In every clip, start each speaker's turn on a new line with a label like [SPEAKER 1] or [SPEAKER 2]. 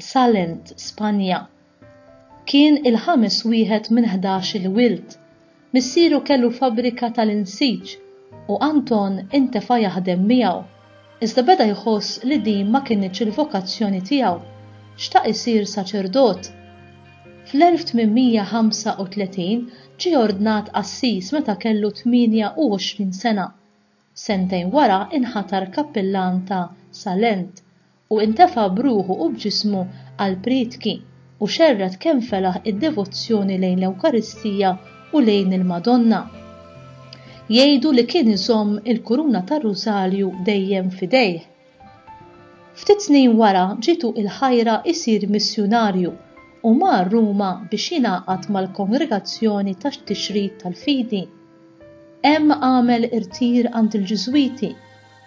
[SPEAKER 1] Salent, Spanja. Kien il-ħames wieħed minn ħdax-il wild. Missieru kellu fabbrika tal-insiġ u Anton intefa' jaħdem miegħu. Iżda beda jħoss li din ma kinitx il-vokazzjoni tiegħu. Xtaq isir saċerdot. Fl-1835 ġie ordnat qassis meta kellu 28 sena. Sentejn wara inħatar kappillan ta' Salent u intefa' b'ruħu u b'ġismu għall-prietki, u xerred kemm felaħ id-devozzjoni lejn l-Ewkaristija u lejn il-Madonna. Jgħidu li kien iżomm il-kuruna tar-Rużarju dejjem f'idejh. Ftit snin wara ġietu il-ħajra jsir missjunarju u mar Ruma biex jingħaqad mal-Kongregazzjoni tat-Tixrid tal-Fidi. Hemm għamel irtir għand il-Ġiżwiti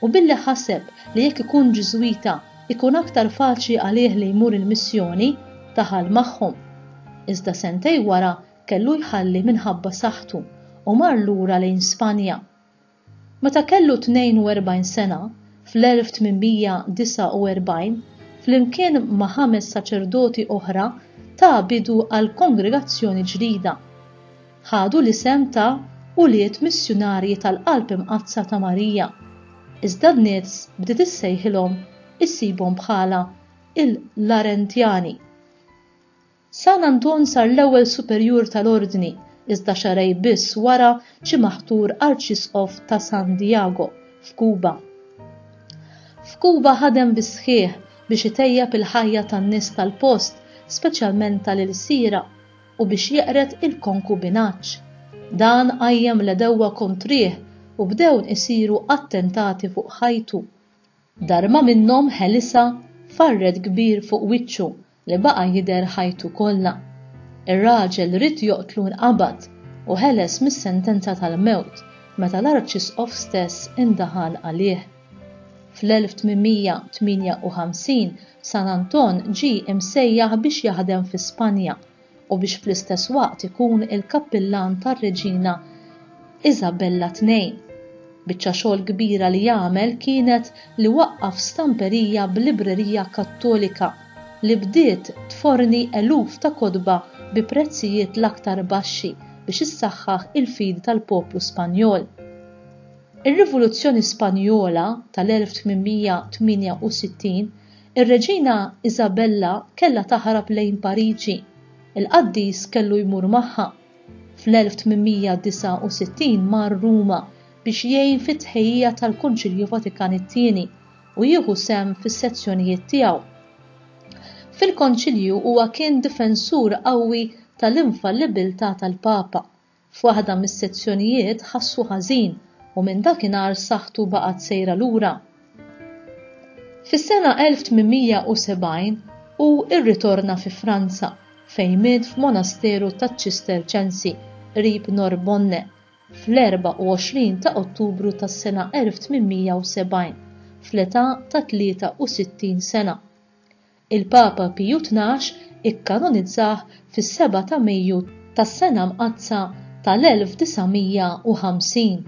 [SPEAKER 1] U billi ħaseb li jekk ikun Ġiżwita jkun aktar faċli għalih li jmur il-missjoni, daħal magħhom. Iżda sentejn wara kellu jħalli minħabba saħħtu u mar lura lejn Spanja. Meta kellu 42 sena, fl-1849, flimkien ma' ħames saċerdoti oħra ta bidu għal kongregazzjoni ġdida. ħadu l-isem ta' Ulied Missjunarji tal-Qalb Imqaddsa ta' Marija, iżda n-nies bdiet issejħilhom issibhom bħala l-Arendjani. San Anton sar l-ewwel superjur tal-Ordni, iżda xahrejn biss wara ġie maħtur Arċisqof ta' San Diago, f'Kuba. F'Kuba ħadem bis-sħiħ biex itejjeb il-ħajja tan-nies tal-post, speċjalment tal-ilsiera. u biex jeqred il-konkubinaġġ. Dan qajjem l-għedewwa kontrih u bdewn isiru attentati fuq ħajtu. Darma minnhom ħelisha farred kbir fuq wiċċu li baqa' jidher ħajtu kollha. Ir-raġel ried joqtlu nqabad u ħeles mis-sentenza tal-mewt meta l-Arċisqof stess indaħal għalih. Fl-1858 San Anton ġie imsejjaħ biex jaħdem fi Spanja u biex fl-istess waqt ikun il-kappillan tar-Reġina Isabella ii. Biċċa xogħol kbira li għamel kienet li waqqaf stamperija b'librerija Kattolika li bdiet tforni eluf ta' kotba bi prezzijiet l-aktar baxxi biex issaħħaħ il-fidi tal-poplu Spanjol. Ir-Rivoluzzjoni Spanjola tal-1868, ir-Reġina Isabella kellha taħrab lejn Pariġi. Il-qaddis kellu jmur magħha. Fl-1869 mar Ruma biex jgħin fit-tħejjija tal-Kunċilju Vatikan it-Tieni u jieħu sehem fis-sezzjonijiet tiegħu. Fil-Konċilju huwa kien difensur qawwi tal-infallibbiltà tal-Papa, F'waħda mis-sezzjonijiet ħassu ħażin u minn dakinhar saħħtu baqgħet sejra lura. Fis-sena 1870 hu rritorna fi Franza fejn miet f'monasteru taċ-Ċisterċensi qrib Norbonne fl-24 ta' Ottubru tas-sena 1870 fl-età ta' 63 sena. Il-Papa Piju Tnax ikkanonizzah fis-seba' ta' Mejju tas-Sena Mqaddsa tal-1950.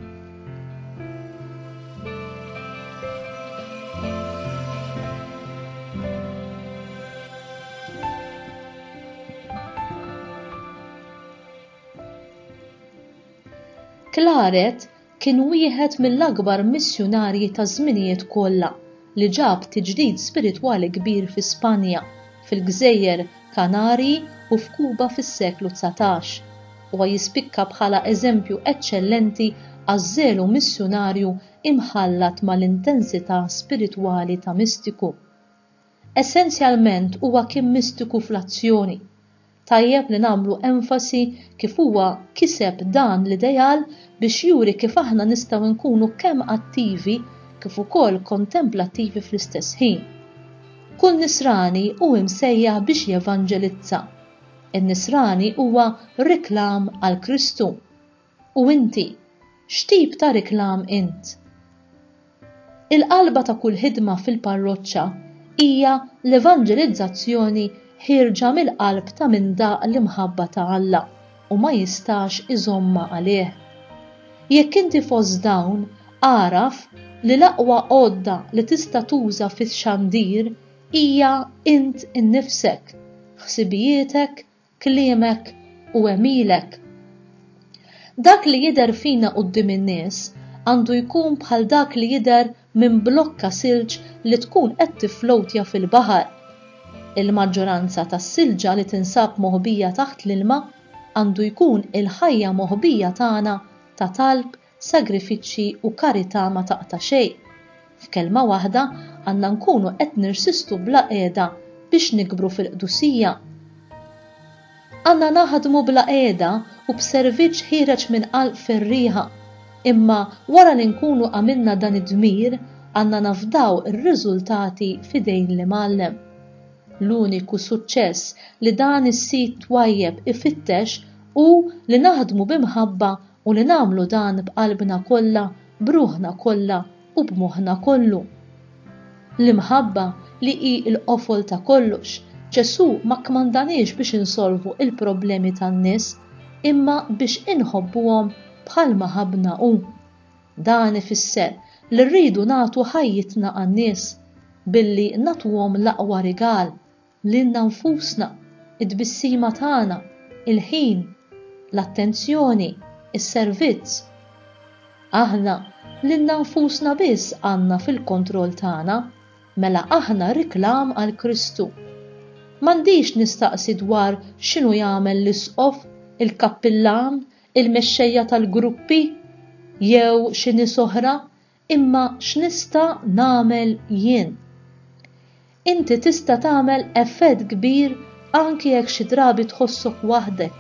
[SPEAKER 1] Claret Kien wieħed mill-akbar missjunarji taż-żminijiet kollha li ġab tiġdid spiritwali kbir fi Spanja, fil-Gżejjer Kanarji u f'Kuba fis-seklu dsatax. Huwa jispikka bħala eżempju eċċellenti għaż-żelu missjunarju imħallat mal-intensità spiritwali ta' mistiku. Essenzjalment huwa kien mistiku fl-azzjoni. Tajjeb li nagħmlu enfasi kif huwa kiseb dan l-ideal biex juri kif aħna nistgħu nkunu kemm attivi kif ukoll kontemplattivi fl-istess ħin. Kull nisrani hu msejjaħ biex jevanġelizza. In-nisrani huwa reklam għal Kristu. U inti, x'tip ta' riklam int? Il-qalba ta' kull ħidma fil-parroċċa hija l-evanġelizzazzjoni ħierġa mill-qalb ta' min daq l-imħabba ta' Alla u ma jistax iżommha għalih. Jekk inti fost dawn, agħraf li l-aqwa għodda li tista' tuża fix-xandir hija int innifsek, ħsibijietek, kliemek u għemilek. Dak li jidher fina quddiem in-nies għandu jkun bħal dak li jidher minn blokka silġ li tkun qed tifflowtja fil-baħar. Il-maġġoranza tas-silġa li tinsab moħbija taħt l-ilma għandu jkun il-ħajja moħbija tagħna ta' talb sagrifiċċji u karità ma taqta' xejn. F'kelma waħda, għandna nkunu qed nirsistu bla qiegħda biex nikbru fil-qdusija. Għandna naħdmu bla qiegħda u b'serviċċ ħiereġ minn qalb ferrieħa, imma wara li nkunu għamilna dan id-dmir, għandna nafdaw ir-riżultati f'idejn l-Imgħallem. L-uniku suċċess li dan is-sid twajjeb ifittex hu li naħdmu b'imħabba u li nagħmlu dan b'qalbna kollha, b'ruħna kollha u b'moħħna kollu. L-imħabba, li hi l-qofol ta' kollox, Ġesù ma kkmandaniex biex insolvu l-problemi tan-nies, imma biex inħobbuhom bħalma ħabbna hu. Dan ifisser li rridu nagħtu ħajjitna għan-nies, billi nagħtuhom l-aqwa rigal, Lilna nfusna, it-tbissima tagħna, il-ħin, l-attenzjoni, is-servizz. Aħna lilna nfusna biss għandna fil-kontroll tagħna, mela aħna riklam għal Kristu. M'għandix nistaqsi dwar x'inhu jagħmel l-isqof, il-kappillan, il-mexxejja tal-gruppi jew xi nies oħra Imma x'nista' nagħmel jien? Inti tista' tagħmel effett kbir anki jekk xi drabi tħossok waħdek,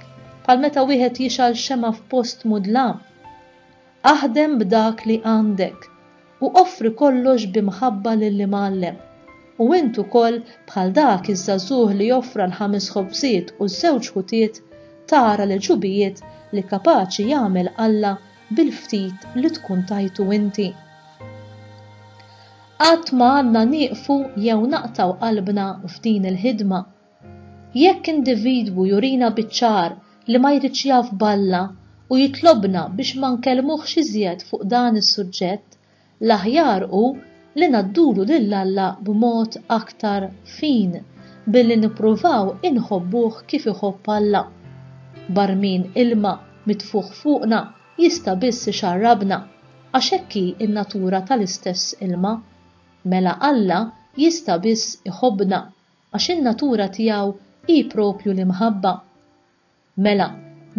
[SPEAKER 1] bħal meta wieħed jixgħal xemgħa f'post mudlam. Aħdem b'dak li għandek, u offri kollox bi mħabba lill-Imgħallem. U int ukoll, bħal dak iż-żagħżugħ li offra l-ħames ħobżiet u ż-żewġ ħutiet, tara l-għeġubijiet li kapaċi jagħmel Alla bil-ftit li tkun tajtu inti. Qatt ma għandna nieqfu jew naqtgħu qalbna f'din il-ħidma. Jekk individwu jurina biċ-ċar li ma jridx jaf b'Alla u jitlobna biex ma nkellmuhx iżjed fuq dan is-suġġett, L-aħjar hu li ngħaddulu lil Alla b'mod aktar fin billi nippruvaw inħobbuh kif iħobb Alla. Barmin ilma mitfugħ fuqna jista' biss ixarrabna, għax hekk hi n-natura tal-istess ilma. Mela Alla jista' biss iħobbna, għax in-natura tiegħu hi proprju l-imħabba. Mela,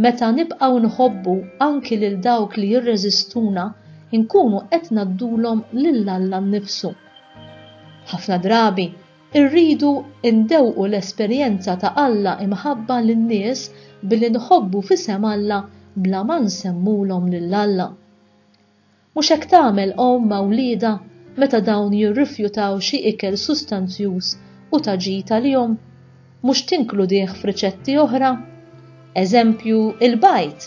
[SPEAKER 1] meta nibqgħu nħobbu anki lil dawk li jirreżistuna, inkunu qed ngħaddulhom lil Alla nnifsu. Ħafna drabi, irridu ndewqu l-esperjenza ta' Alla imħabba lin-nies billi nħobbu f'isem Alla bla ma nsemmulhom lil Alla. Mhux hekk tagħmel omm ma' wliedha meta dawn jirrifjutaw xi ikel sustanzjuż u ta' ġid għalihom? Mhux tinkludih f'riċetti oħra? Eżempju, il-bajd,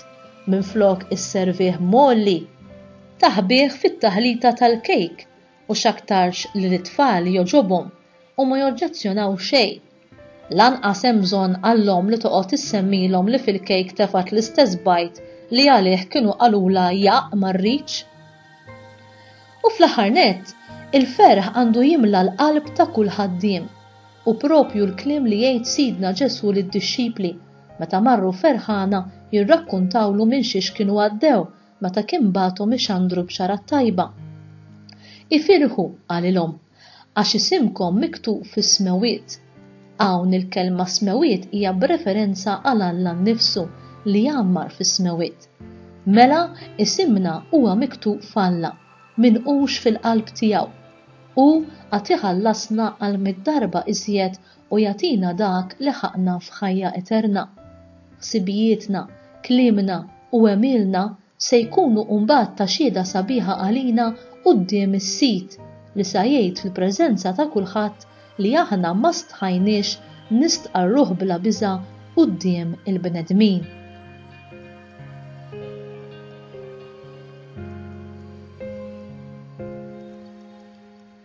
[SPEAKER 1] minflok isservih mgħolli, taħbih fit-taħlita tal-kejk u x'aktarx li lit-tfal jogħġobhom u ma joġġezzjonaw xejn. Lanqas hemm bżonn għall-omm li toqgħod issemmilhom li fil-kejk tefgħet l-istess bajd li għalih kienu qalulha jaqq ma rridx. U fl-aħħar nett, il-ferħ għandu jimla l-qalb ta' kull ħaddiem. Hu proprju l-kliem li jgħid Sidna Ġesù lid-dixxipli meta marru ferħana jirrakkuntawlu minn xiex kienu għaddew meta kien bagħathom ixandru b-xara t-tajba. Ifirħu, qalilhom. għax isimkom miktub fis-smewwiet. Hawn il-kelma smewwiet hija b'referenza għal Alla nnifsu li jgħammar fis-smewwiet. Mela isimna huwa miktub f'Alla, min hux fil-qalb tiegħu. Hu għad iħallasna għal mitt darba iżjed u jagħtina dak li ħaqqna f'ħajja eterna. Ħsibijietna, kliemna u għemilna Se jkunu mbagħad ta' xhieda sabiħa għalina quddiem is-Sid, li sa jgħid fil-preżenza ta' kulħadd li aħna ma stħajniex nistqarruh bla biża' quddiem il-bnedmin.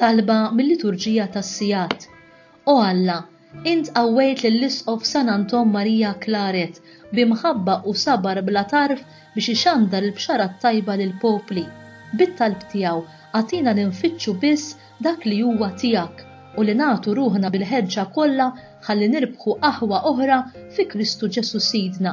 [SPEAKER 1] Talba mil-Liturġija tas-Sigħat. O Alla, int qawwejt lill-Isqof San Anton Maria Claret bi mħabba u sabar bla tarf biex ixandar il-Bxara t-Tajba lill-popli. Bit-talb tiegħu, agħtina li nfittxu biss dak li huwa tiegħek u li nagħtu ruħna bil-ħeġġa kollha ħalli nirbħu aħwa oħra fi Kristu Ġesù Sidna.